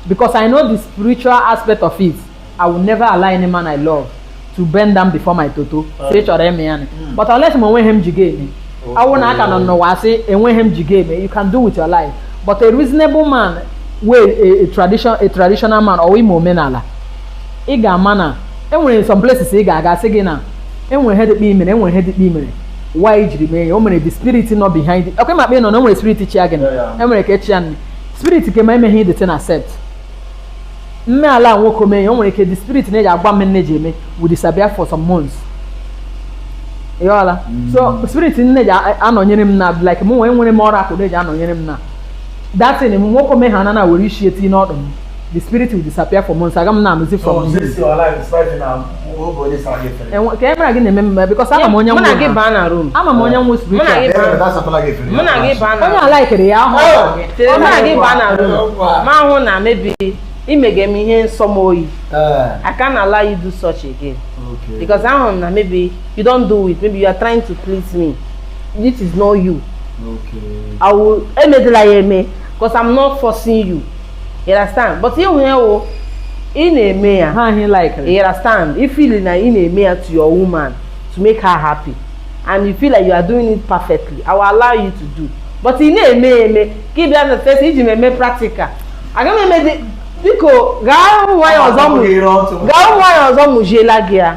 because I know the spiritual aspect of it I will never allow any man I love to bend down before my toto so ị chọrọ eme ya ni hmm. but unless ma enweghị m ji ga-eme awụ na aka nọ n'ụwa asị enweghị m ji ga-eme you can do with your life but a reasonable man wey a, a, tradition, a traditional man or ị ma omenala ị ga-ama na enwere some places ị ga-aga asị gị na enwere ihe dịkpa imere enwere ihe dịkpa imere why jiri mee ya o mere the spirit nọ behind it ọkwa ịmakpa ị nọ na enwere spirit chi ya gị na enwere ka echi ya nne spirit ke ma emeghị the thing accept mme ala nwoke ome ihe o nwere ike the spirit na-eji agwa m ihe m na-eji eme will disappear for some months ịghọla so spirit na-eji a- anọnyere m na like mụ nwee nwere m ọrụ akụ na-eji anọnyere m na that thing nwoke o mee ihe ahụ na-ewere isi eti n'ọdụ m the spirit will disappear for months aga m na-anụzi from him. Enwe- ka e mara gị na-eme mmemme because ama m onye mụ na gị nwụrụ baa na room ama m onye nwụrụ mụ na spiritual gị baa mụ na gị baa na onye a likere ya ahụ mụ na gị baa na room m ahụ na maybe ị mege m ihe na-asọ m oyi I can't allow you do such again because ahụ m na maybe you don't do it maybe you are trying to please me this is not you I will emedela ya eme because I'm not forcing you you understand but if ya wụ ị na-eme ya ha ihe like you understand you feel na ị na-eme ya to your woman to make her happy and you feel like you are doing it perfectly i will allow you to do but ị na-eme ya eme ka ị bịa na fesa iji m eme practical aga m eme dị biko gaa ụmụ nwaanyị ọzọ mụ- gaa ụmụ nwaanyị ọzọ mụjiela gị ya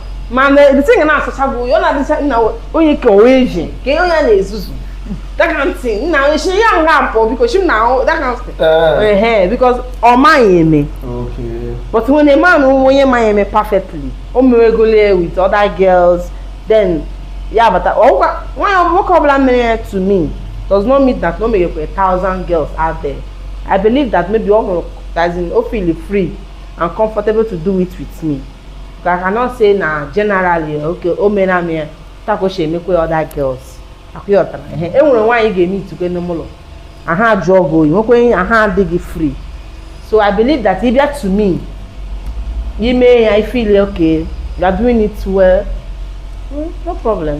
mana ebite ga na-asụcha bụ ya ọ na-adịcha nna onye ka onwe eji ka ihe onye a na-ezuzu daka ntị nna onye chi ya nga apụ biko chi m na ahụ daka ntị Eh, ehe because ọ maghị eme okay. but when a man who onye ma ya eme perfectly o mewegolo ya with other girls then ya bata ọgwụkwa nwaanyị ọ- nwoke ọbụla mere ya to me does not mean that na o meghekwa a thousand girls out there i believe that maybe ọ hụrụ as in o feel free and comfortable to do it with me I cannot say na generally okay o mere m ya otu a ka o si emekwa ya other girls ọkwa ị ghọtara ehe e nwere nwaanyị ị ga-emetụkwa n'ime ụlọ ahụ ajụọ gị oyi nwekwa ihe ahụ adịghị free so i believe that ị bịa to me ị mee ya i feel okay you are doing it well mm, no problem